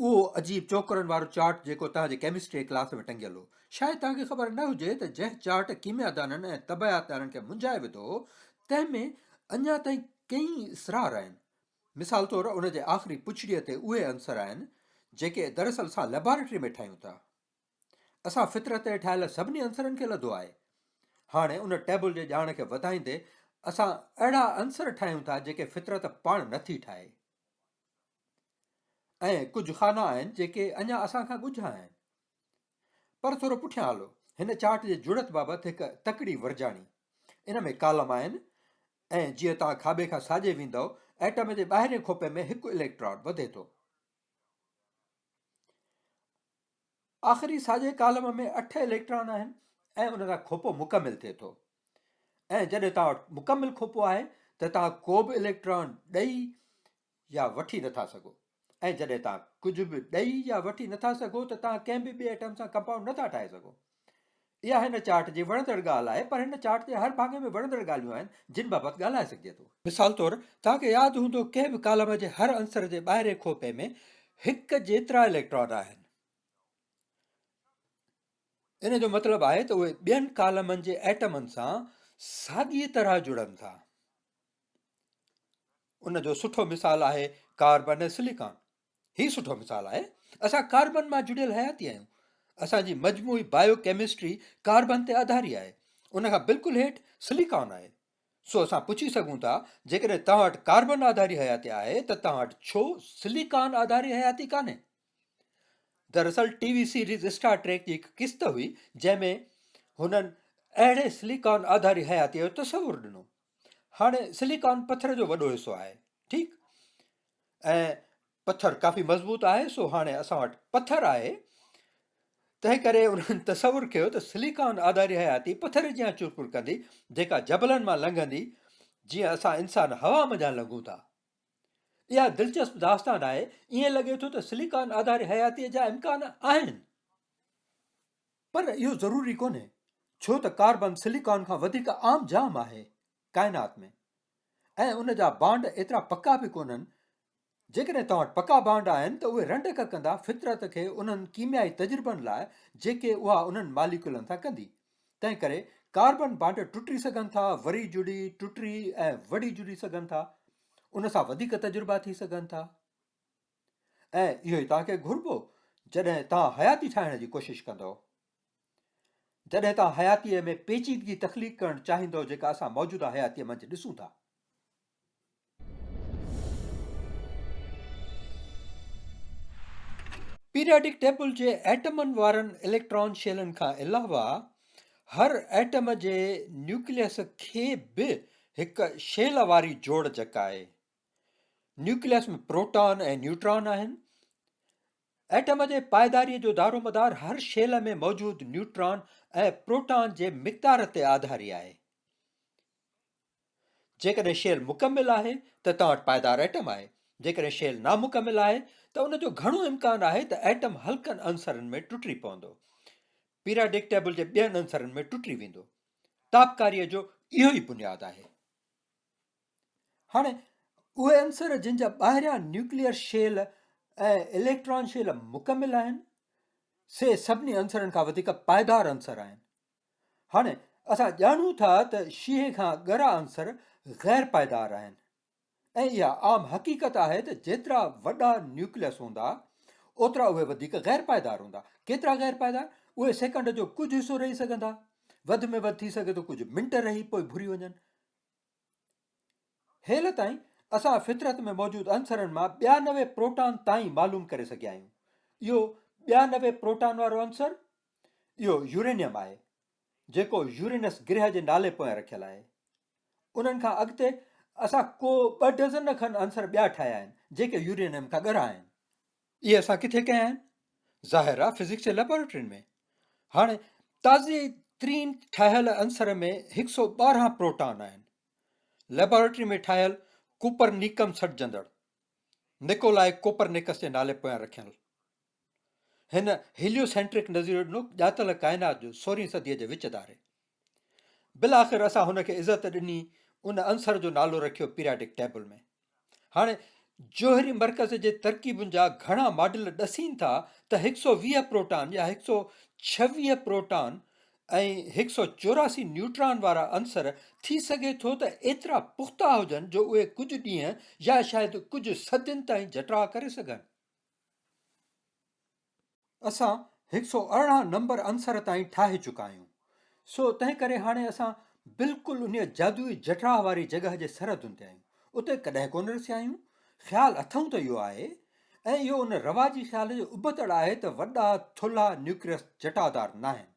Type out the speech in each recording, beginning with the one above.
اهو عجيب چوڪرن وارو چارٽ جيڪو توهان جي ڪيمسٽري ڪلاس ۾ ٽنگيل هو. شايد توهان کي خبر نه هجي ته جنهن چارٽ ڪيميادانن ۽ طبعياتدانن کي منجهائي وڌو هو، تنهن ۾ اڃا تائين ڪيئي اسرار آهن. مثال طور ان جي آخري پڇڙيء تي اهي عنصر آهن، جيڪي دراصل اسان ليبارٽريء ۾ ٺاهيون ٿا. اسان فطرت تي ٺاهيل سڀني عنصرن کي لڌو آهي. هاڻي ان ٽيبل جي ڄاڻ کي وڌائيندي اسان اهڙا عنصر ٺاهيون ٿا جيڪي فطرت پاڻ نٿي ٺاهي. ۽ ڪجهه خانا آهن جيڪي اڃا اسان کان ڳجها آهن. پر ٿورو پٺيان هلو، هن چارٽ جي جڙت بابت هڪ تڪڙي ورجاڻي. ان ۾ ڪالم آهن ۽ جيئن توهان کاٻي کان ساڄي ويندؤ، ايٽم جي ٻاهرين کوپي ۾ هڪ اليڪٽران وڌي ٿو. آخري ساڄي ڪالم ۾ اٺ اليڪٽران آهن ۽ ان سان کوپو مڪمل ٿئي ٿو. ۽ جڏهن توهان وٽ مڪمل کوپو آهي ته توهان ڪو به اليڪٽران ڏئي يا وٺي نٿا سگهو ۽ جڏهن توهان ڪجهه به ڏئي يا وٺي نٿا سگهو ته توهان ڪنهن به ٻئي ايٽم سان ڪمپائونڊ نٿا ٺاهي سگهو. اها هن چارٽ جي وڻندڙ ڳالهه آهي پر هن چارٽ جي هر ڀاڱي ۾ وڻندڙ ڳالهيون آهن جن بابت ڳالهائي سگهجي ٿو. مثال طور توهان کي ياد هوندو ڪنهن به ڪالم جي هر عنصر جي ٻاهرين کوپي ۾ هڪ جيترا اليڪٽران آهن. ان جو مطلب آهي ته اهي ٻين ڪالمن جي ايٽمن سان ساڳيء طرح جڙن ٿا. ان جو سٺو مثال آهي ڪاربن ۽ سليڪان. هي سٺو مثال آهي. اسان ڪاربن مان جڙيل حياتي آهيون. اسان جي مجموعي بايو ڪيمسٽري ڪاربن تي آڌاري آهي. ان کان بلڪل هيٺ سليڪان آهي. سو اسان پڇي سگهون ٿا جيڪڏهن توهان وٽ ڪاربن آڌاري حياتي آهي ته توهان وٽ ڇو سليڪان آڌاري حياتي ڪانهي؟ دراصل T V series Star Trek جي هڪ قسط هئي جنهن ۾ هنن اهڙي سليڪان آڌاري حياتي جو تصور ڏنو. هاڻي سليڪان پٿر جو وڏو حصو آهي ٺيڪ ۽ پٿر ڪافي مضبوط آهي سو هاڻي اسان وٽ پٿر آهي تنهن ڪري انهن تصور ڪيو ته سليڪان آڌاري حياتي پٿر جيان چرپر ڪندي جيڪا جبلن مان لنگهندي جيئن اسان انسان هوا منجهان لنگهون ٿا اها دلچسپ داستان آهي ائين لڳي ٿو ته سليڪان آڌاري حياتي جا امڪان آهن پر اهو ضروري ڪونهي ڇو ته ڪاربن سليڪان کان وڌيڪ عام جام آهي ڪائنات ۾ ۽ ان جا بانڊ ايترا پڪا به ڪونهن جيڪڏهن توهان وٽ پڪا بانڊ آهن ته اهي رنڊڪ ڪندا فطرت کي انهن ڪيميائي تجربن لاء جيڪي اها انهن ماليڪولن سان ڪندي تنهن ڪري ڪاربن بانڊ ٽٽي سگهن ٿا وري جڙي ٽٽي ۽ وڙي جڙي سگهن ٿا ان سان وڌيڪ تجربا ٿي سگهن ٿا ۽ اهو ئي توهان کي گهربو جڏهن توهان حياتي ٺاهڻ جي ڪوشش ڪندؤ. جڏهن توهان حياتيء ۾ پيچيدگي تخليق ڪرڻ چاهيندؤ جيڪا اسان موجوده حياتيء منجهه ڏسون ٿا. پيرياڊڪ ٽيبل جي ايٽمن وارن اليڪٽران شيلن کان علاوه هر ايٽم جي نيوڪليس کي به هڪ شيل واري جوڙجڪ آهي. نيوڪليس ۾ پروٽان ۽ نيوٽران آهن. ايٽم جي پائداري جو دارومدار هر شيل ۾ موجود نيوٽران ۽ پروٽان جي مقدار تي آڌاري آهي. جيڪڏهن شيل مڪمل آهي ته توهان وٽ پائدار ايٽم آهي. جيڪڏهن شيل نامڪمل آهي ته ان جو گهڻو امڪان آهي ته ايٽم هلڪن عنصرن ۾ ٽٽي پوندو. پيراڊڪ ٽيبل جي ٻين عنصرن ۾ ٽٽي ويندو. تابڪاري جو اهو ئي بنياد آهي. هاڻي اهي عنصر جن جا ٻاهريان نيوڪليئر شيل ۽ اليڪٽران شيل مڪمل آهن سي سڀني عنصرن کان وڌيڪ پائيدار عنصر آهن هاڻي اسان ڄاڻون ٿا ته شيهي کان ڳرا عنصر غير پائيدار آهن ۽ اها عام حقيقت آهي ته جيترا وڏا نيوڪليس هوندا اوترا اهي وڌيڪ غير پائيدار هوندا ڪيترا غير پائيدار اهي سيڪنڊ جو ڪجهه حصو رهي سگهندا وڌ ۾ وڌ ٿي سگهي ٿو ڪجهه منٽ رهي پوء گهري وڃن هيل تائين اسان فطرت ۾ موجود عنصرن مان ٻيا نوي پروٽان تائين معلوم ڪري سگهيا آهيون اهو ٻيا نوي پروٽان وارو عنصر اهو يورينيم آهي جيڪو يورينس گرهه جي نالي پويان رکيل آهي انهن کان اڳتي اسان ڪو ٻه ڊزن کن عنصر ٻيا ٺاهيا آهن جيڪي يورينيم کان ڳرا آهن اهي اسان ڪٿي ڪيا آهن ظاهر آهي فزڪس جي ليبارٽرين ۾ هاڻي تازي ترين ٺاهيل عنصر ۾ هڪ سؤ ٻارهن پروٽان آهن ليبارٽري ۾ ٺاهيل ڪوپر نيڪم سڏجندڙ نڪولاء ڪوپر نيڪس جي نالي پويان رکيل هن هيليو سينٽرڪ نظريو ڏنو ڄاتل ڪائنات جو سورهين صديء جي وچ ڌاري بالاخر اسان هن کي عزت ڏني ان عنصر جو نالو رکيو پيرياڊڪ ٽيبل ۾ هاڻي جوهري مرڪز جي ترڪيبن جا گهڻا ماڊل ڏسين ٿا ته 120 پروٽان يا 126 پروٽان ۽ 184 نيوٽران وارا عنصر ٿي سگهي ٿو ته ايترا پختا هجن جو اهي ڪجهه ڏينهن يا شايد ڪجهه صدين تائين جٽاء ڪري سگهن اسان هڪ سؤ ارڙهن نمبر عنصر تائين ٺاهي چڪا آهيون، سو تنهن ڪري هاڻي اسان بلڪل انهيء جادوئي جٺراهه واري جڳهه جي سرحدن تي آهيون. اتي ڪڏهن ڪونه رسيا آهيون. خيال اٿئون ته اهو آهي ۽ اهو ان رواجي خيال جو ابتڙ آهي ته وڏا ٿلها نيوڪليس جٽادار ناهن.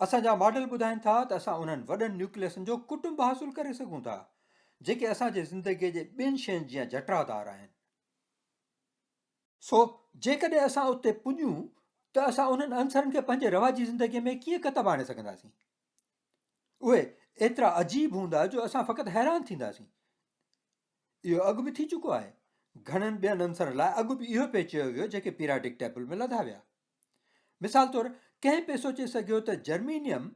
اسان جا ماڊل ٻڌائين ٿا ته اسان انهن وڏن نيوڪليسن جو ڪٽنب حاصل ڪري سگهون ٿا، جيڪي اسان جي زندگيء جي ٻين شين جيان جٽرادار آهن. سو جيڪڏهن اسان اتي پڄون ته اسان انهن عنصرن کي پنهنجي رواجي زندگيء ۾ ڪيئن ڪتب آڻي سگهنداسين؟ اهي ايترا عجيب هوندا جو اسان فقط حيران ٿينداسين. اهو اڳ به ٿي چڪو آهي. گهڻن ٻين عنصرن لاء اڳ به اهو پئي چيو ويو جيڪي پيراڊڪ ٽيبل ۾ لڌا ويا. مثال طور ڪنهن پئي سوچي سگهيو ته جرمينيم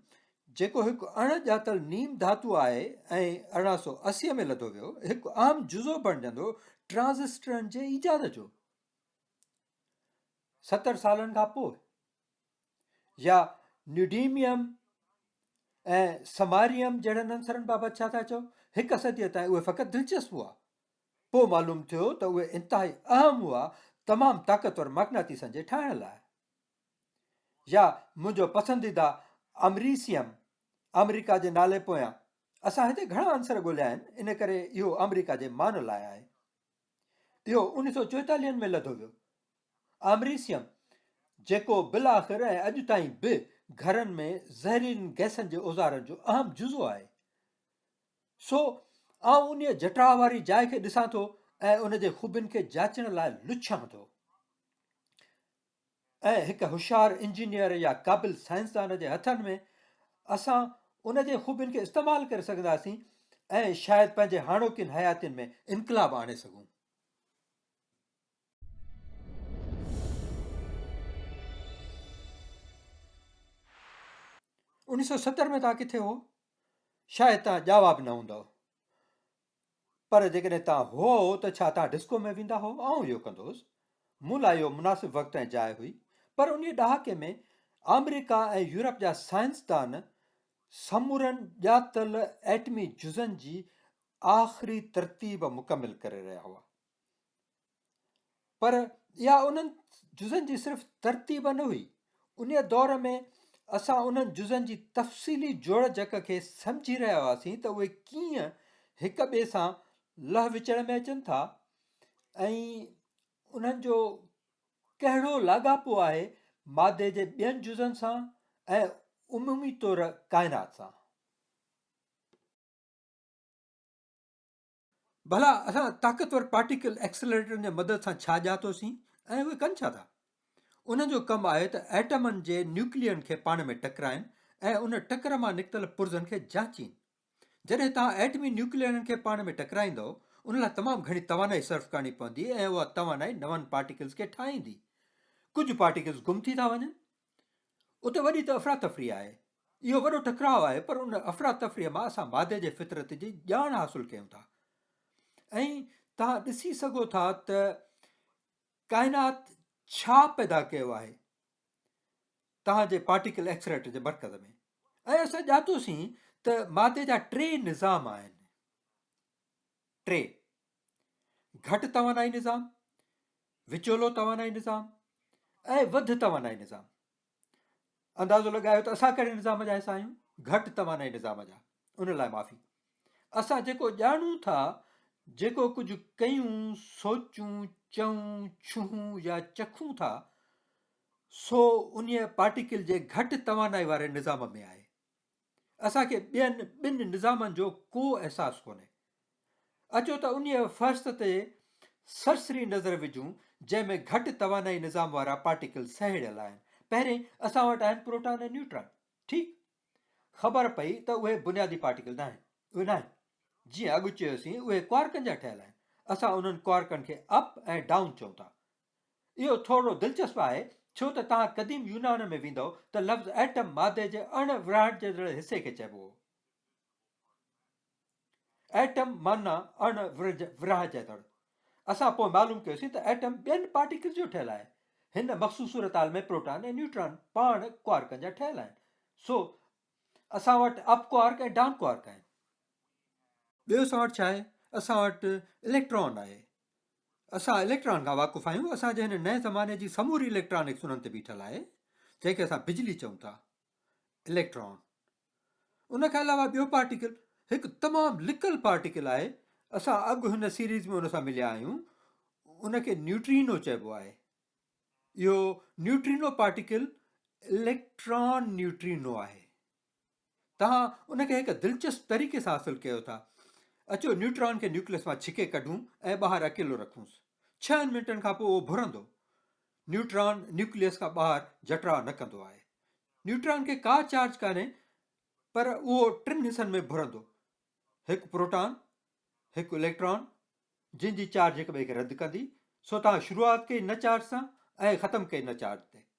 جيڪو هڪ اڻ ڄاتل نيم ڌاتو آهي ۽ ارڙهن سؤ اسي ۾ لڌو ويو هڪ اهم جزو بڻجندو ٽرانزسٽرن جي ايجاد جو ستر سالن کان پوء يا نيوڊيميم ۽ سماريم جهڙن عنصرن بابت ڇا ٿا چئو هڪ صديء تائين اهي فقط دلچسپ هئا پوء معلوم ٿيو ته اهي انتهائي اهم هئا تمام طاقتور مقناطيسن جي ٺاهڻ لاء. يا منهنجو پسنديده آمريسيم، آمريڪا جي نالي پويان، اسان هتي گهڻا عنصر ڳوليا آهن ان ڪري اهو آمريڪا جي مان لاء آهي. اهو انهن سؤ چوئيتاليهن ۾ لڌو ويو. آمريسيم جيڪو بالاخر ۽ اڄ تائين به گهرن ۾ زهريلين گئسن جي اوزارن جو اهم جزو آهي. سو آئون انهيء جٽاء واري جاء کي ڏسان ٿو ۽ ان جي خوبين کي جاچڻ لاء لڇان ٿو ۽ هڪ هوشيار انجنيئر يا قابل سائنسدان جي هٿن ۾ اسان ان جي خوبين کي استعمال ڪري سگهنداسين ۽ شايد پنهنجي هاڻوڪين حياتين ۾ انقلاب آڻي سگهون انيس سو ستر ۾ تان ڪٿي هو شايد توهان ڄاوا به نه هوندؤ. پر جيڪڏهن توهان هئو ته ڇا توهان ڊسڪو ۾ ويندا هئو؟ آئون اهو ڪندوس. مون لاء اهو مناسب وقت ۽ جاء هئي. پر انهيء ڏهاڪي ۾ آمريڪا ۽ يورپ جا سائنسدان سمورن ڄاتل ايٽمي جزن جي آخري ترتيب مڪمل ڪري رهيا هئا. پر اها انهن جزن جي صرف ترتيب نه هئي انهي دور ۾ اسان انهن جزن جي تفصيلي جوڙجڪ کي سمجهي رهيا هئاسين ته اهي ڪيئن هڪ ٻئي سان لهه وچڙ ۾ اچن ٿا ۽ انهن جو ڪهڙو لاڳاپو آهي مادي جي ٻين جزن سان ۽ عمومي طور ڪائنات سان ڀلا اسان طاقتور پارٽيڪل ايڪسلريٽرن جي مدد سان ڇا ڄاتو سين ۽ اهي ڪن ڇا ٿا؟ انهن جو ڪم آهي ته ايٽمن جي نيوڪلين کي پاڻ ۾ ٽڪرائين ۽ ان ٽڪر مان نڪتل پرزن کي جانچين. جڏهن توهان ايٽمي نيوڪلينن کي پاڻ ۾ ٽڪرائيندؤ ان لاء تمام گهڻي توانائي صرف ڪرڻي پوندي ۽ اها توانائي نون پارٽيڪلز کي ٺاهيندي. ڪجهه پارٽيڪلز گم ٿي ٿا وڃن. اتي وڏي ته افراتفري آهي. اهو وڏو ٽڪراء آهي پر ان افراتفري مان اسان مادي جي فطرت جي ڄاڻ حاصل ڪيون ٿا ۽ توهان ڏسي سگهو ٿا ته ڪائنات ڇا پيدا ڪيو آهي توهان جي پارٽيڪل ايڪسريٽر جي مرڪز ۾ ۽ اسان ڄاتوسين ته مادي جا ٽي نظام آهن ٽي گهٽ توانائي نظام، وچولو توانائي نظام ۽ وڌ توانائي نظام اندازو لڳايو ته اسان ڪهڙي نظام جا حصا آهيون گهٽ توانائي نظام جا ان لاء معافي اسان جيڪو ڄاڻون ٿا جيڪو ڪجهه ڪيون سوچون چون ڇهون يا چکون ٿا سو ان پارٽيڪل جي گهٽ توانائي واري نظام ۾ آهي اسان کي ٻين ٻن نظامن جو ڪو احساس ڪونهي. اچو ته انهيء فهرست تي سرسري نظر وجهون، جنهن ۾ گهٽ توانائي نظام وارا پارٽيڪل سهيڙيل آهن. پهرين، اسان وٽ آهن پروٽان ۽ نيوٽران. ٺيڪ. خبر پئي ته اهي بنيادي پارٽيڪل ناهن. اهي ناهن. جيئن اڳ چيوسين، اهي ڪوارڪن جا ٺهيل آهن. اسان انهن ڪوارڪن کي اپ ۽ ڊائون چئون ٿا. اهو ٿورڙو دلچسپ آهي، ڇو ته توهان قديم يونان ۾ ويندؤ ته لفظ ائٽم مادي جي اڻ ورهائجندڙ حصي کي چئبو هو. ائٽم معنيٰ اڻ ورهائجندڙ. اسان پوء معلوم ڪيوسين ته ائٽم ٻين پارٽيڪلز جو ٺهيل آهي. هن مخصوص صورتحال ۾ پروٽان ۽ نيوٽران پاڻ ڪوارڪن جا ٺهيل آهن. سو اسان وٽ اپ ڪوارڪ ۽ ڊان ڪوارڪ آهن. ٻيو اسان وٽ ڇا آهي؟ اسان وٽ اليڪٽران آهي. اسان اليڪٽران کان واقف آهيون، اسان جي هن نئين زماني جي سموري اليڪٽرانڪس انهن تي بيٺل آهي، جنهن کي اسان بجلي چئون ٿا، اليڪٽران. ان کان علاوه ٻيو پارٽيڪل هڪ تمام لڪل پارٽيڪل آهي، اسان اڳ هن سيريز ۾ ان سان مليا آهيون، ان کي نيوٽرينو چئبو آهي. اهو نيوٽرينو پارٽيڪل اليڪٽران نيوٽرينو آهي. توهان ان کي هڪ دلچسپ طريقي سان حاصل ڪيو ٿا. اچو نيوٽران کي نيوڪليس مان ڇڪي ڪڍون ۽ ٻاهر اڪيلو رکونس. ڇهن منٽن کان پوء اهو ڀرندو. نيوٽران نيوڪليس کان ٻاهر جٽراء نه ڪندو آهي. نيوٽران کي ڪا چارج ڪانهي پر اهو ٽن حصن ۾ ڀرندو. هڪ پروٽان، هڪ اليڪٽران جن جي چارج هڪ ٻئي کي رد ڪندي، سو توهان شروعات ڪئي نه چارج سان ۽ ختم ڪئي نه چارج تي.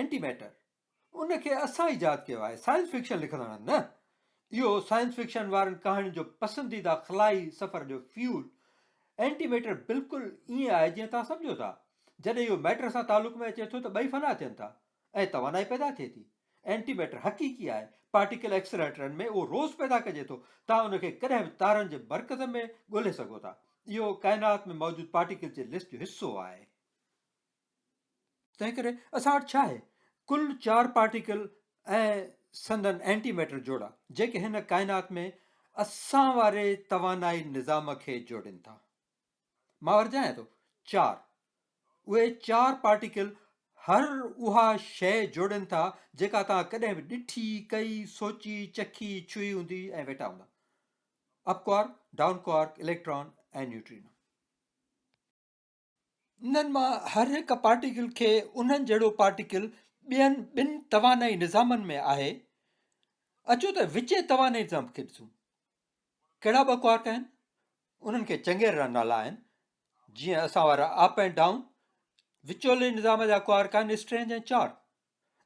اينٽي ميٽر، ان کي اسان ايجاد ڪيو آهي، سائنس فڪشن لکندڙن نه. اهو سائنس فڪشن وارن ڪهاڻين جو پسنديده خلائي سفر جو فيول، اينٽي ميٽر بلڪل ائين آهي جيئن توهان سمجهو ٿا. جڏهن اهو ميٽر سان تعلق ۾ اچي ٿو ته ٻئي فنا ٿين ٿا ۽ توانائي پيدا ٿئي ٿي. اينٽي ميٽر حقيقي آهي، پارٽيڪل ايڪسلريٽرن ۾ اهو روز پيدا ڪجي ٿو، توهان ان کي ڪڏهن به تارن جي مرڪز ۾ ڳولهي سگهو ٿا. اهو ڪائنات ۾ موجود پارٽيڪلز جي لسٽ جو حصو آهي. تنهن ڪري اسان وٽ ڇا آهي؟ ڪل چار پارٽيڪل ۽ سندن اينٽي ميٽر جوڙا جيڪي هن ڪائنات ۾ اسان واري توانائي نظام کي جوڙين ٿا. مان ورجايان ٿو چار. اهي چار پارٽيڪل هر اها شيء جوڙين ٿا جيڪا توهان ڪڏهن به ڏٺي، ڪئي، سوچي، چکي، ڇهي هوندي ۽ ويٺا هوندا. Up quark, down quark, electron ۽ neutrino. انهن مان هر هڪ پارٽيڪل کي انهن جهڙو پارٽيڪل ٻين ٻن توانائي نظامن ۾ آهي اچو ته وچين توانائي نظام کي ڏسون ڪهڙا ٻه ڪوارڪ آهن انهن کي چڱي طرح نالا آهن جيئن اسان وارا اپ ۽ ڊائون وچولي نظام جا ڪوارڪ آهن اسٽرينج ۽ چار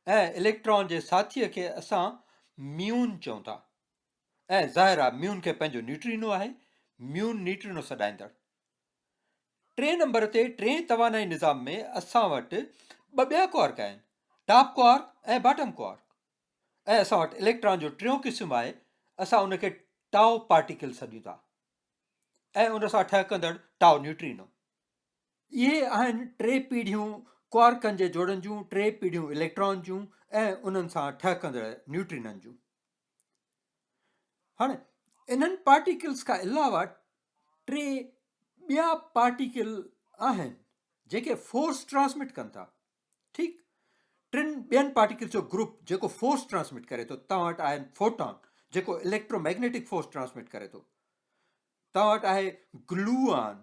۽ اليڪٽران جي ساٿيء کي اسان ميون چون ٿا ۽ ظاهر آهي ميون کي پنهنجو نيوٽرينو آهي ميون نيوٽرينو سڏائيندڙ ٽئين نمبر تي ٽئين توانائي نظام ۾ اسان وٽ ٻه ٻيا ڪوارڪ آهن ٽاپ ڪوارڪ ۽ باٽم ڪوارڪ ۽ اسان وٽ اليڪٽران جو ٽيون قسم آهي اسان ان کي ٽائو پارٽيڪل سڏيون ٿا ۽ ان سان ٺهڪندڙ ٽائو نيوٽرينو اهي آهن ٽي پيڙهيون ڪوارڪن جي جوڙن جون ٽي پيڙهيون اليڪٽران جون ۽ انهن سان ٺهڪندڙ نيوٽرينن جون هاڻي انهن پارٽيڪلز کان علاوه ٽي ٻيا پارٽيڪل آهن جيڪي فورس ٽرانسمٽ ڪن ٿا ٺيڪ ٽن ٻين پارٽيڪلز جو گروپ جيڪو فورس ٽرانسمٽ ڪري ٿو توهان وٽ آهن فوٽان جيڪو اليڪٽروميگنيٽڪ فورس ٽرانسمٽ ڪري ٿو توهان وٽ آهي گلوان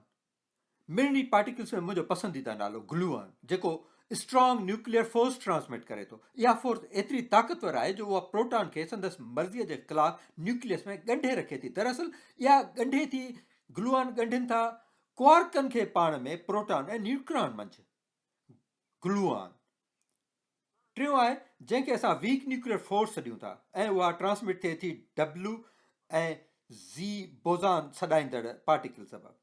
مڙني پارٽيڪلز ۾ منهنجو پسنديده نالو گلوئن جيڪو اسٽرانگ نيوڪليئر فورس ٽرانسمٽ ڪري ٿو. اها فورس ايتري طاقتور آهي جو اها پروٽان کي سندس مرضيء جي خلاف نيوڪليس ۾ ڳنڍي رکي ٿي. دراصل اها ڳنڍي ٿي گلوئن ڳنڍين ٿا ڪوارڪن کي پاڻ ۾ پروٽان ۽ نيوٽران منجهه گلوئن ٽيون آهي جنهن کي اسان ويڪ نيوڪليئر فورس سڏيون ٿا ۽ اها ٽرانسمٽ ٿئي ٿي ڊبليو ۽ زي بوزان سڏائيندڙ پارٽيڪل سبب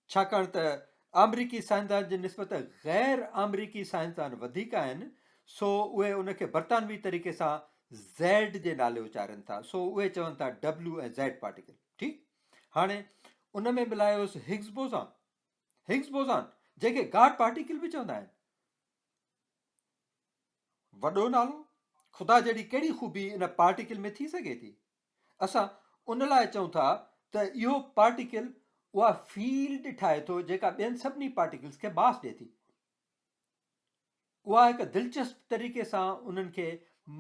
ڇاڪاڻ ته آمريڪي سائنسدان جي نسبت غير آمريڪي سائنسدان وڌيڪ آهن سو اهي ان کي برطانوي طريقي سان زيڊ جي نالي اچارن ٿا سو اهي چون ٿا ڊبليو ۽ زيڊ پارٽيڪل ٺيڪ هاڻي ان ۾ ملايوس هگز بوزان هگز بوزان جنهن کي گاڊ پارٽيڪل به چوندا آهن وڏو نالو خدا جهڙي ڪهڙي خوبي ان پارٽيڪل ۾ ٿي سگهي ٿي؟ اسان ان لاء چئون ٿا ته اهو پارٽيڪل اها فيلڊ ٺاهي ٿو جيڪا ٻين سڀني پارٽيڪلز کي باس ڏئي ٿي. اها هڪ دلچسپ طريقي سان انهن کي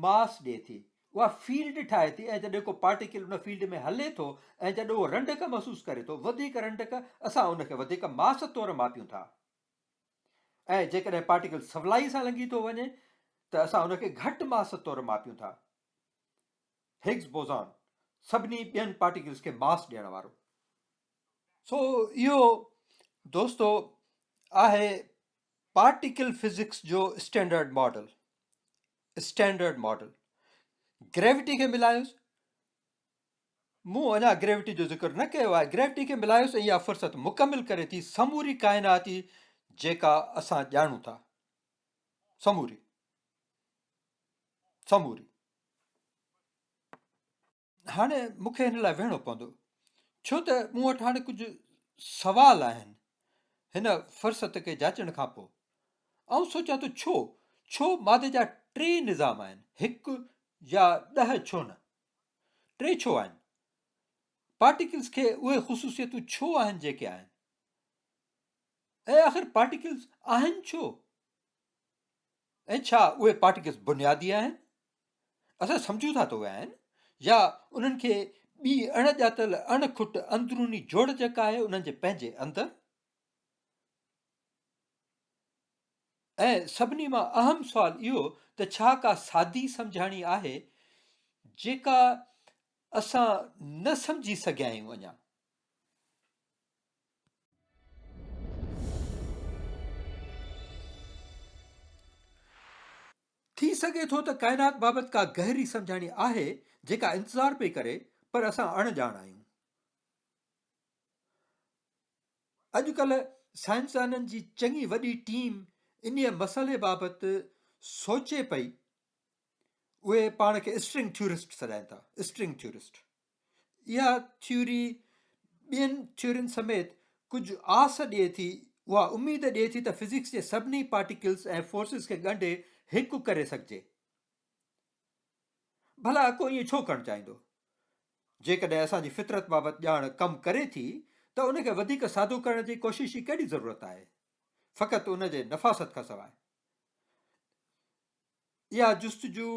ماس ڏئي ٿي. اها فيلڊ ٺاهي ٿي ۽ جڏهن ڪو پارٽيڪل ان فيلڊ ۾ هلي ٿو ۽ جڏهن اهو رنڊڪ محسوس ڪري ٿو وڌيڪ رنڊڪ اسان ان کي وڌيڪ ماس طور ماپيون ٿا. ۽ جيڪڏهن پارٽيڪل سولائي سان لنگهي ٿو وڃي ته اسان ان کي گهٽ ماس طور ماپيون ٿا. هگز بوزان سڀني ٻين پارٽيڪلز کي ماس ڏيڻ وارو. سو اهو دوستو آهي پارٽيڪل فزڪس جو standard model standard model gravity کي ملايوس مون اڃا گريوٽي جو ذڪر نه ڪيو آهي، گريوٽي کي ملايوس ۽ اها فرصت مڪمل ڪري ٿي سموري ڪائناتي جيڪا اسان ڄاڻون ٿا. سموري. سموري. هاڻي مون کي هن لاء ويهڻو پوندو ڇو ته مون وٽ هاڻي ڪجهه سوال آهن هن فرصت کي جاچڻ کان پوء آئون سوچان ٿو ڇو ڇو مادي جا ٽي نظام آهن هڪ يا ڏهه ڇو نه ٽي ڇو آهن؟ پارٽيڪلز کي اهي خصوصيتون ڇو آهن جيڪي آهن؟ ۽ آخر پارٽيڪلز آهن ڇو؟ ۽ ڇا اهي پارٽيڪلز بنيادي آهن؟ اسان سمجھون ٿا ته اهي آهن يا انهن کي ٻي اڻ ڄاتل اڻ کٽ اندروني جوڙجڪ آهي انهن جي پنهنجي اندر ۽ سڀني مان اهم سوال اهو ته ڇا ڪا سادي سمجهاڻي آهي جيڪا اسان نه سمجهي سگهيا آهيون اڃا؟ ٿي سگهي ٿو ته ڪائنات بابت ڪا گهري سمجهاڻي آهي جيڪا انتظار پئي ڪري پر اسان اڻ ڄاڻ آهيون. اڄڪلهه سائنسدانن جي چڱي وڏي ٽيم انهيء مسئلي بابت سوچي پئي. اهي پاڻ کي اسٽرنگ ٿيورسٽ سڏائين ٿا. String theorist. اها ٿيوري ٻين ٿيورين سميت ڪجهه آس ڏئي ٿي، اها اميد ڏئي ٿي ته فزڪس جي سڀني پارٽيڪلز ۽ فورسز کي ڳنڍي هڪ ڪري سگهجي. ڀلا ڪو ائين ڇو ڪرڻ چاهيندو؟ جيڪڏهن اسان جي فطرت بابت ڄاڻ ڪم ڪري ٿي ته ان کي وڌيڪ سادو ڪرڻ جي ڪوشش جي ڪهڙي ضرورت آهي؟ فقط ان جي نفاست کان سواء. اها جستجو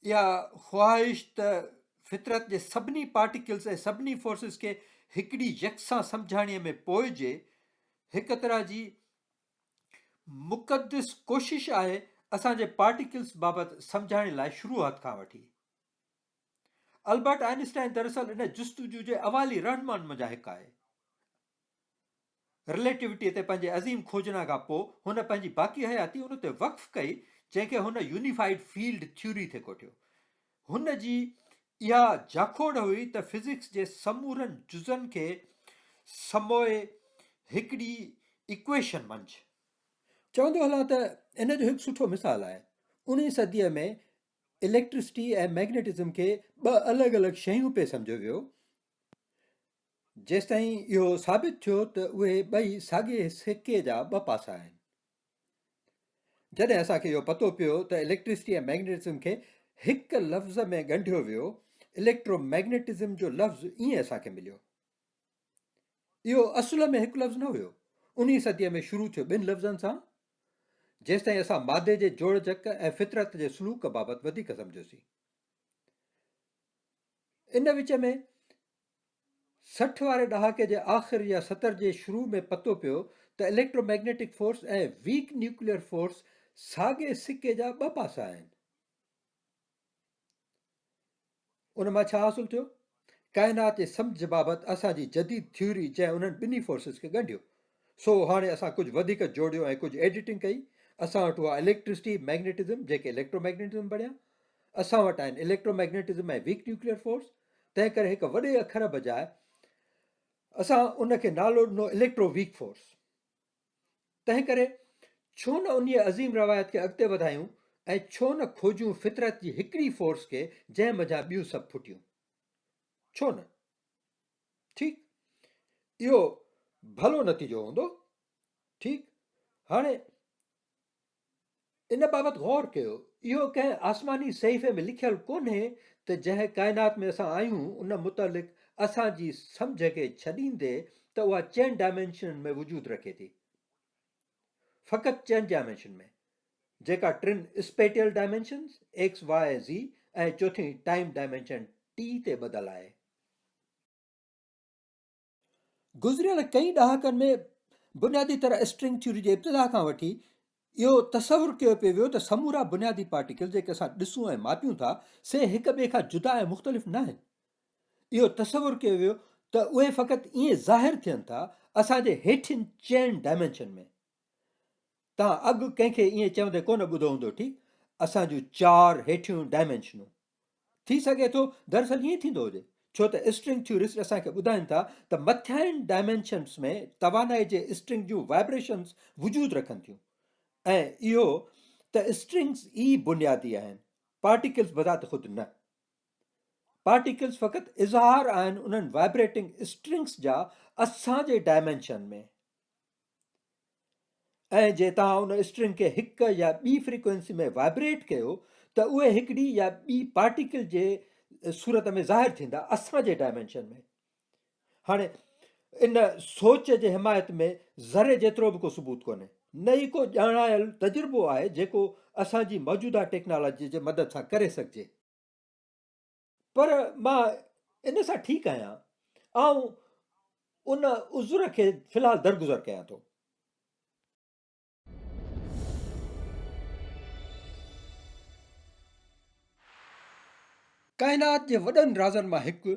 اها خواهش ته فطرت جي سڀني پارٽيڪلز ۽ سڀني فورسز کي هڪڙي يڪسان سمجهاڻيء ۾ پوئجي هڪ طرح جي مقدس ڪوشش آهي اسان جي پارٽيڪلز بابت سمجهائڻ لاء شروعات کان وٺي. البرٽ آئنسٽائن دراصل ان جستجو جي اوائلي رهنمائن منجهان هڪ آهي. رليٽيوٽي تي پنهنجي عظيم کوجنا کان پوء هن پنهنجي باقي حياتي ان تي وقف ڪئي جنهن کي هن يونيفائيڊ فيلڊ ٿيوري تي ڪوٺيو. هن جي اها جاکوڙ هئي ته فزڪس جي سمورن جزن کي سموئي هڪڙي ايڪويشن منجھ. چوندو هلان ته ان جو هڪ سٺو مثال آهي. انهيء صديء ۾ اليڪٽرسٽي ۽ مئگنيٽزم کي ٻه الڳ الڳ شيون پئي سمجهيو ويو، جيستائين اهو ثابت ٿيو ته اهي ٻئي ساڳئي سڪي جا ٻه پاسا آهن. جڏهن اسان کي اهو پتو پيو ته اليڪٽرسٽي ۽ مئگنيٽزم کي هڪ لفظ ۾ ڳنڍيو ويو، اليڪٽرو مئگنيٽزم جو لفظ ائين اسان کي مليو. اهو اصل ۾ هڪ لفظ نه هيو، انهي صديء ۾ شروع ٿيو ٻن لفظن سان، جيستائين اسان مادي جي جوڙجڪ ۽ فطرت جي سلوڪ بابت وڌيڪ سمجهيوسين. ان وچ ۾ سٺ واري ڏهاڪي جي آخر يا ستر جي شروع ۾ پتو پيو ته electromagnetic force ۽ weak nuclear force ساڳئي سڪي جا ٻه پاسا آهن. ان مان ڇا حاصل ٿيو؟ ڪائنات جي سمجهه بابت اسان جي جديد ٿيوري جنهن انهن ٻنهي فورسز کي ڳنڍيو سو هاڻي اسان ڪجهه وڌيڪ جوڙيو ۽ ڪجهه ايڊيٽنگ ڪئي اسان وٽ هئا اليڪٽرسٽي مئگنيٽزم جيڪي اليڪٽرو مئگنيٽزم بڻيا اسان وٽ آهن electromagnetism ۽ weak nuclear force تنهن ڪري هڪ وڏي اکر بجاء اسان ان کي نالو ڏنو اليڪٽرو ويڪ فورس تنهن ڪري ڇو نه انهي عظيم روايت کي اڳتي وڌايون ۽ ڇو نه کوجون فطرت جي هڪڙي فورس کي جنهن منجهان ٻيون سڀ ڦٽيون ڇو نه ٺيڪ اهو ڀلو نتيجو هوندو ٺيڪ هاڻي ان بابت غور ڪيو، اهو ڪنهن آسماني صحيفي ۾ لکيل ڪونهي ته جنهن ڪائنات ۾ اسان آهيون ان متعلق اسان جي سمجهه کي ڇڏيندي ته اها چئن ڊائمينشنن ۾ وجود رکي ٿي. فقط چئن ڊائمينشن ۾، جيڪا ٽن اسپيٽيل ڊائمينشنز، ايڪس، واء، زي، ۽ چوٿين ٽائيم ڊائمينشن، ٽي، تي ٻڌل آهي. گذريل ڪئين ڏهاڪن ۾ بنيادي طرح اسٽرنگ ٿيوري جي ابتدا کان وٺي اهو تصور ڪيو پيو ويو ته سمورا بنيادي پارٽيڪل جيڪي اسان ڏسون ۽ ماپيون ٿا سي هڪ ٻئي کان جدا ۽ مختلف نه آهن اهو تصور ڪيو ويو ته اهي فقط ائين ظاهر ٿين ٿا اسان جي هيٺين چئن ڊائمينشن ۾ توهان اڳ ڪنهن کي ائين چوندي ڪونه ٻڌو هوندو ٺيڪ اسان جون چار هيٺيون ڊائمينشنون ٿي سگهي ٿو دراصل ائين ٿيندو هجي، ڇو ته اسٽرنگ ٿيورسٽ اسان کي ٻڌائين ٿا ته مٿيائين ڊائمينشنس ۾ توانائي جي اسٽرنگ جون وائبريشنس وجود رکن ٿيون ۽ اهو ته اسٽرنگز ئي بنيادي آهن پارٽيڪلز بذات خود نه پارٽيڪلز فقط اظهار آهن انهن وائبريٽنگ اسٽرنگز جا اسان جي ڊائمينشن ۾ ۽ جي توهان ان اسٽرنگ کي هڪ يا ٻي فريڪوئنسي ۾ وائبريٽ ڪيو ته اهي هڪڙي يا ٻي پارٽيڪل جي صورت ۾ ظاهر ٿيندا اسان جي ڊائمينشن ۾ هاڻي ان سوچ جي حمايت ۾ ذري جيترو به ڪو ثبوت ڪونهي نه ئي ڪو ڄاڻايل تجربو آهي جيڪو اسان جي موجوده ٽيڪنالاجي جي مدد سان ڪري سگهجي پر مان ان سان ٺيڪ آهيان. آئون ان عذر کي في الحال درگذر ڪيان ٿو. ڪائنات جي وڏن رازن مان هڪ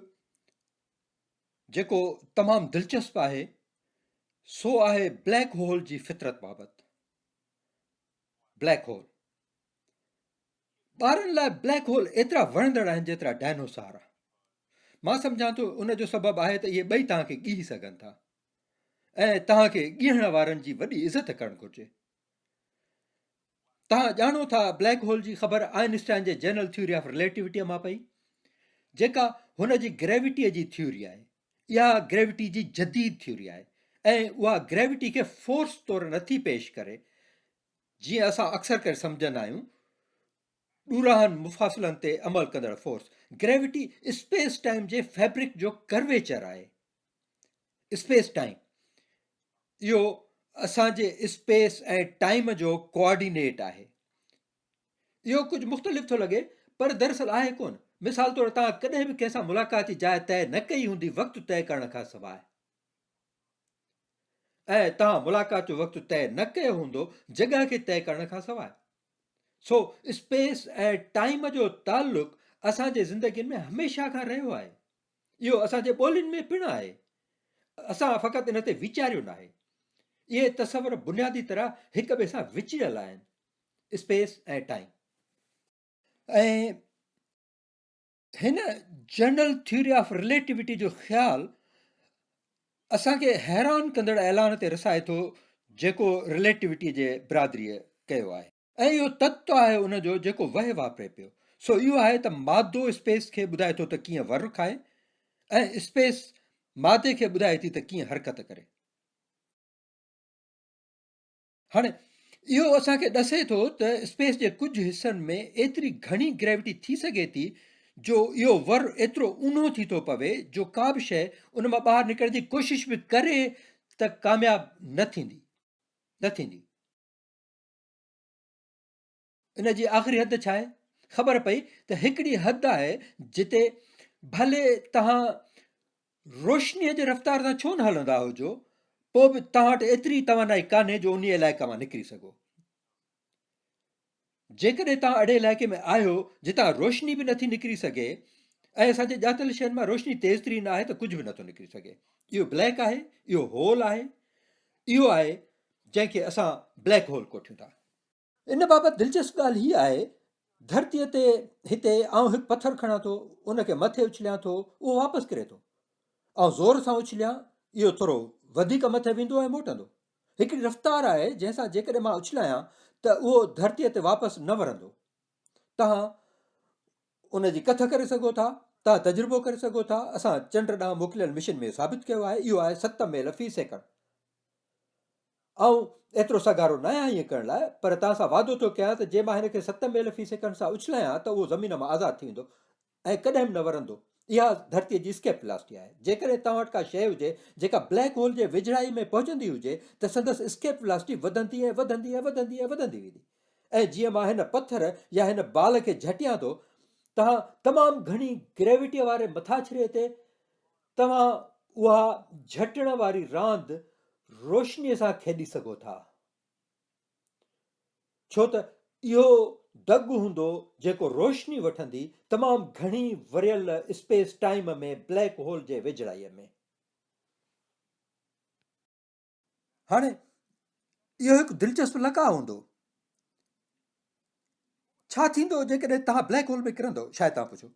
جيڪو تمام دلچسپ آهي سو آهي بليڪ هول جي فطرت بابت. بليڪ هول ٻارن لاء بليڪ هول ايترا وڻندڙ آهن جيترا ڊائنوسار. مان سمجهان ٿو ان جو سبب آهي ته اهي ٻئي توهان کي ڳيهي سگهن ٿا ۽ توهان کي ڳيهڻ وارن جي وڏي عزت ڪرڻ گهرجي. توهان ڄاڻو ٿا بليڪ هول جي خبر آئنسٽائن جي جنرل ٿيوري آف رليٽيوٽي مان پئي جيڪا هن جي گريوٽي جي ٿيوري آهي اها گريوٽي جي جديد ٿيوري آهي ۽ اها گريوٽي کي فورس طور نٿي پيش ڪري جيئن اسان اڪثر ڪري سمجهندا آهيون، ڏورانهن مفاصلن تي عمل ڪندڙ فورس گريويٽي اسپيس ٽائيم جي فيبرڪ جو ڪرويچر آهي. اسپيس ٽائيم اهو اسان جي اسپيس ۽ ٽائيم جو ڪوآرڊينيٽ آهي اهو ڪجهه مختلف ٿو لڳي پر دراصل آهي ڪون مثال طور تان ڪڏهن به ڪنهن سان ملاقات جي جاء طئي نه ڪئي هوندي وقت طئي ڪرڻ کان سواء ۽ توهان ملاقات جو وقت طئي نه ڪيو هوندو جڳهه کي طئي ڪرڻ کان سواء. سو اسپيس ۽ ٽائيم جو تعلق اسان جي زندگين ۾ هميشه کان رهيو آهي. اهو اسان جي ٻولين ۾ پڻ آهي. اسان فقط ان تي ويچاريو ناهي. اهي تصور بنيادي طرح هڪ ٻئي سان وچڙيل آهن. Space ۽ time. ۽ هن جنرل ٿيوري آف رليٽيوٽي جو خيال اسان کي حيران ڪندڙ اعلان تي رسائي ٿو جيڪو رليٽيوٽي جي برادري ڪيو آهي ۽ اهو تت آهي ان جو جيڪو وهي واپري پيو سو اهو آهي ته مادو اسپيس کي ٻڌائي ٿو ته ڪيئن ور کائي ۽ اسپيس مادي کي ٻڌائي ٿي ته ڪيئن حرڪت ڪري هاڻي اهو اسان کي ڏسي ٿو ته اسپيس جي ڪجهه حصن ۾ ايتري گهڻي گريوٽي ٿي سگهي ٿي جو اهو ور ايترو اونهو ٿي ٿو پوي جو ڪا به شيء ان مان ٻاهر نڪرڻ جي ڪوشش به ڪري ته ڪامياب نه ٿيندي نه ٿيندي. ان جي آخري حد ڇا آهي؟ خبر پئي ته هڪڙي حد آهي جتي ڀلي توهان روشنيء جي رفتار سان ڇو نه هلندا هجو پوء به توهان وٽ ايتري توانائي ڪانهي جو انهي علائقي مان نڪري سگهو جيڪڏهن توهان اهڙي علائقي ۾ آهيو جتان روشني به نٿي نڪري سگهي ۽ اسان جي ڄاتل شين مان روشني تيز ترين آهي ته ڪجهه به نٿو نڪري سگهي اهو بليڪ آهي اهو هول آهي اهو آهي جنهن کي اسان بليڪ هول ڪوٺيون ٿا ان بابت دلچسپ ڳالهه هيء آهي، ڌرتيء تي هتي آئون هڪ پٿر کڻان ٿو، ان کي مٿي اڇليان ٿو، اهو واپس ڪري ٿو. آئون زور سان اڇليان، اهو ٿورو وڌيڪ مٿي ويندو ۽ موٽندو. هڪڙي رفتار آهي، جنهن سان جيڪڏهن مان اڇلايان ته اهو ڌرتيء تي واپس نه ورندو. توهان ان جي ڪٿ ڪري سگهو ٿا، توهان تجربو ڪري سگهو ٿا، اسان چنڊ ڏانهن موڪليل مشن ۾ ثابت ڪيو آهي، اهو آهي ست ميل في سيڪنڊ. آئون ايترو سگهارو ناهيان ائين ڪرڻ لاء، پر توهان سان وعدو ٿو ڪيان ته جي مان هن کي ست ميل في سيڪنڊ سان اڇلايان ته اهو زمين مان آزاد ٿي ويندو ۽ ڪڏهن به نه ورندو. اها ڌرتيء جي اسڪيپ ولاسٽي آهي. جيڪڏهن توهان وٽ ڪا شيء هجي جيڪا بليڪ هول جي ويجهڙائيء ۾ پهچندي هجي ته سندس اسڪيپ ولاسٽي وڌندي ۽ وڌندي ۽ وڌندي ۽ وڌندي ويندي ۽ جيئن مان هن پٿر يا هن بال کي جهٽيان ٿو توهان تمام گهڻي گريويٽيء واري مٿاڇري تي توهان اها جهٽڻ واري راند روشنيء سان کيڏي سگهو ٿا. ڇو ته اهو دڳ هوندو جيڪو روشني وٺندي تمام گهڻي وريل اسپيس ٽائيم ۾ بليڪ هول جي ويجهڙائيء ۾. هاڻي اهو هڪ دلچسپ لقاء هوندو. ڇا ٿيندو جيڪڏهن توهان بليڪ هول ۾ ڪرندو؟ شايد توهان پڇو.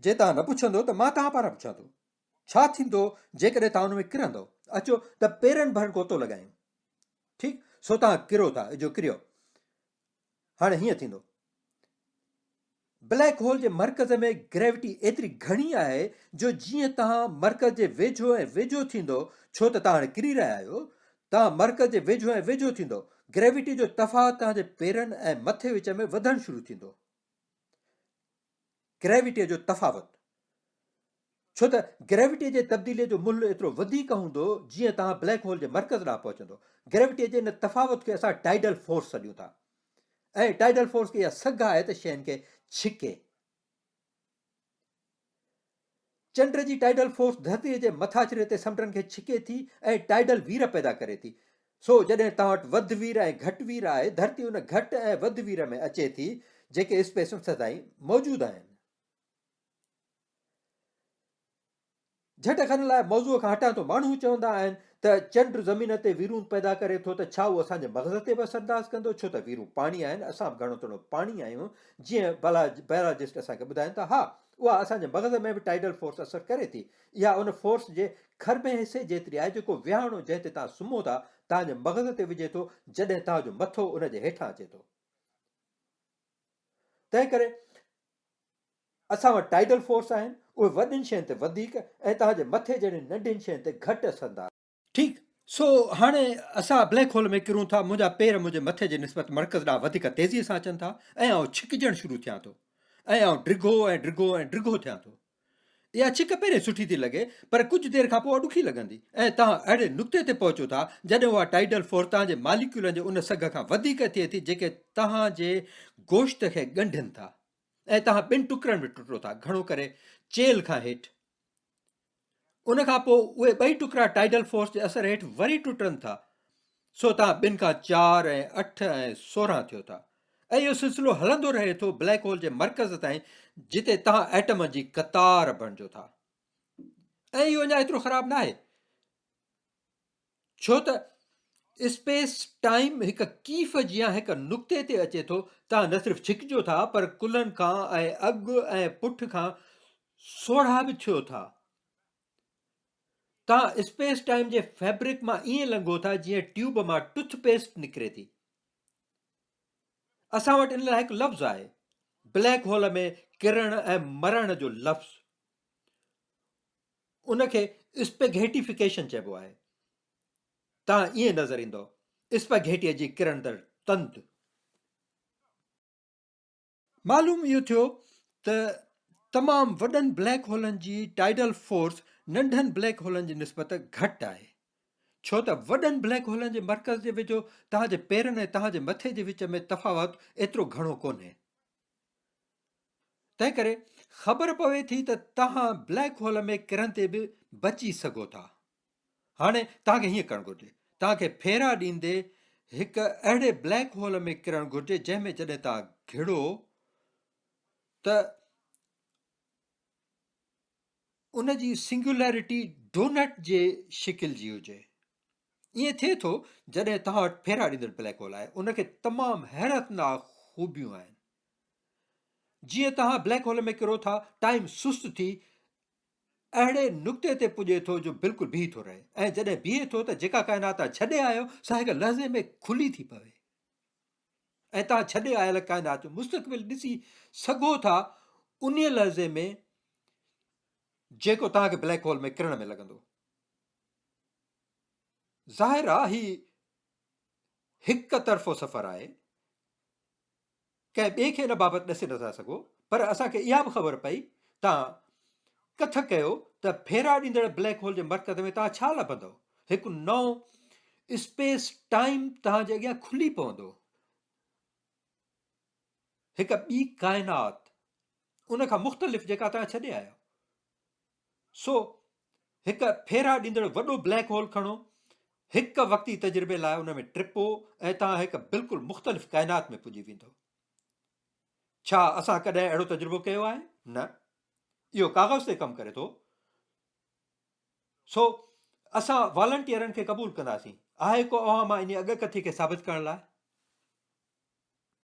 جي توهان نه پڇندو ته مان توهان پاران پڇان ٿو. ڇا ٿيندو جيڪڏهن توهان ان ۾ ڪرندو؟ اچو ته پيرن ڀر گوتو لڳايون. ٺيڪ سو توهان ڪرو ٿا، اجو ڪريو. هاڻي هيئن ٿيندو. بليڪ هول جي مرڪز ۾ گريوٽي ايتري گهڻي آهي جو جيئن توهان مرڪز جي ويجهو ۽ ويجهو ٿيندو ڇو ته توهان هاڻي ڪري رهيا آهيو توهان مرڪز جي ويجهو ۽ ويجهو ٿيندو گريوٽي جو تفاوت توهان جي پيرن ۽ مٿي وچ ۾ وڌڻ شروع ٿيندو گريوٽيء جو تفاوت، ڇو ته گريوٽيء جي تبديليء جو ملهه ايترو وڌيڪ هوندو، جيئن توهان بليڪ هول جي مرڪز ڏانهن پهچندو. گريوٽيء جي ان تفاوت کي اسان ٽائيڊل فورس سڏيون ٿا ۽ ٽائيڊل فورس کي اها سگهه آهي ته شين کي ڇڪي. چنڊ جي ٽائيڊل فورس ڌرتيء جي مٿاڇري تي سمنڊن کي ڇڪي ٿي ۽ ٽائيڊل وير پيدا ڪري ٿي. سو جڏهن توهان وٽ وڌ وير ۽ گهٽ وير آهي، ڌرتي ان گهٽ ۽ وڌ وير ۾ اچي ٿي، جيڪي اسپيسون سدائين موجود آهن. جهٽ کڻڻ لاء موضوع کان هٽان ٿو. ماڻهو چوندا آهن ته چنڊ زمين تي ويرون پيدا ڪري ٿو ته ڇا اهو اسان جي مغز تي به اثر انداز ڪندو؟ ڇو ته ويرون پاڻي آهن، اسان به گهڻو توڻو پاڻي آهيون، جيئن بايولاجسٽ اسان کي ٻڌائين ٿا. ها! اها اسان جي مغز ۾ به ٽائيڊل فورس اثر ڪري ٿي. اها ان فورس جي کرڀين حصي جيتري آهي جيڪو ويهاڻو جنهن تي توهان سمهو ٿا، توهان جي مغز تي وجهي ٿو جڏهن توهان جو مٿو ان جي هيٺان اچي ٿو. تنهن ڪري اسان وٽ ٽائيڊل فورس آهن. اهي وڏين شين تي وڌيڪ ۽ توهان جي مٿي جهڙين ننڍين شين تي گهٽ اثر انداز آهن. ٺيڪ، سو هاڻي اسان بليڪ هول ۾ ڪرون ٿا، منهنجا پير منهنجي مٿي جي نسبت مرڪز ڏانهن وڌيڪ تيزيء سان اچن ٿا ۽ آئون ڇڪجڻ شروع ٿيان ٿو ۽ آئون ڊگهو ۽ ڊگهو ۽ ڊگهو ٿيان ٿو. اها ڇڪ پهرين سٺي ٿي لڳي پر ڪجهه دير کان پوء ڏکي لڳندي ۽ توهان اهڙي نقطي تي پهچو ٿا جڏهن اها ٽائيڊل فورس توهان جي ماليڪيولن جي ان سگهه کان وڌيڪ ٿئي ٿي جيڪي توهان جي گوشت کي ڳنڍين ٿا ۽ توهان ٻن ٽڪرن ۾ ٽٽو ٿا گهڻو ڪري چيلهه کان هيٺ ان کان پوء اهي ٻئي ٽڪرا ٽائيڊل فورس جي اثر هيٺ وري ٽٽن ٿا سو توهان ٻن کان چار ۽ اٺ ۽ سورهن ٿيو ٿا ۽ اهو سلسلو هلندو رهي ٿو بليڪ هول جي مرڪز تائين جتي توهان ايٽمن جي قطار بڻجو ٿا ۽ اهو اڃا ايترو خراب ناهي ڇو ته اسپيس ٽائيم هڪ ڪيف جيان هڪ نقطي تي اچي ٿو، توهان نه صرف ڇڪجو ٿا پر ڪلهن کان ۽ اڳ ۽ پٺ کان سوڙها به ٿيو ٿا. توهان اسپيس ٽائيم جي فيبرڪ مان ائين لنگهو ٿا جيئن ٽيوب مان ٽٿ پيسٽ نڪري ٿي. اسان وٽ ان لاء هڪ لفظ آهي بليڪ هول ۾ ڪرڻ ۽ مرڻ جو لفظ ان کي اسپگهيٽيفڪيشن چئبو آهي. تان ائين نظر ايندو اسپگهيٽيء جي ڪرڻدڙ تند. معلوم اهو ٿيو ته تمام وڏن بليڪ هولن جي ٽائيڊل فورس ننڍن بليڪ هولن جي نسبت گهٽ آهي ڇو ته وڏن بليڪ هولن جي مرڪز جي ويجهو توهان جي پيرن ۽ توهان جي مٿي جي وچ ۾ تفاوت ايترو گهڻو ڪونهي تنهن ڪري خبر پوي ٿي ته توهان بليڪ هول ۾ ڪرڻ تي به بچي سگهو ٿا هاڻي توهان کي هيئن ڪرڻ گهرجي توهان کي ڦيرا ڏيندي هڪ اهڙي بليڪ هول ۾ ڪرڻ گهرجي جنهن ۾ جڏهن توهان گهڙو ته ان جي سنگولرٽي ڊونٽ جي شڪل جي هجي ائين ٿئي ٿو جڏهن توهان وٽ ڦيرا ڏيندڙ بليڪ هول آهي ان کي تمام حيرتناڪ خوبيون آهن جيئن توهان بليڪ هول ۾ ڪرو ٿا ٽائيم سست ٿي اهڙي نقطي تي پڄي ٿو جو بلڪل بيهي ٿو رهي ۽ جڏهن بيهي ٿو ته جيڪا ڪائنات ڇڏي آيو سا هڪ لحظي ۾ کلي ٿي پوي ۽ توهان ڇڏي آيل ڪائنات جو مستقبل ڏسي سگهو ٿا ان لحظي ۾ جيڪو توهان کي بليڪ هول ۾ ڪرڻ ۾ لڳندو ظاهر آ هي هڪ طرفو سفر آهي ڪنهن ٻئي کي ان بابت ڏسي نٿا سگهو پر اسان کي اها به خبر پئي تان ڪٿ ڪيو ته ڦيرا ڏيندڙ بليڪ هول جي مرڪز ۾ تان ڇا لڀندو هڪ نو اسپيس ٽائيم تان جي اڳيان کلي پوندو هڪ ٻي ڪائنات ان کان مختلف جيڪا تان ڇڏي آيو سو هڪ ڦيرا ڏيندڙ وڏو بليڪ هول کڻو هڪ وقتي تجربي لاء ان ۾ ٽپو ۽ توهان هڪ بلڪل مختلف ڪائنات ۾ پڄي ويندو ڇا اسان ڪڏهن اهڙو تجربو ڪيو آهي نه اهو ڪاغذ تي ڪم ڪري ٿو سو اسان والنٽيئرن کي قبول ڪنداسين آهي ڪو اوهان مان ان اڳ ڪٿي کي ثابت ڪرڻ لاء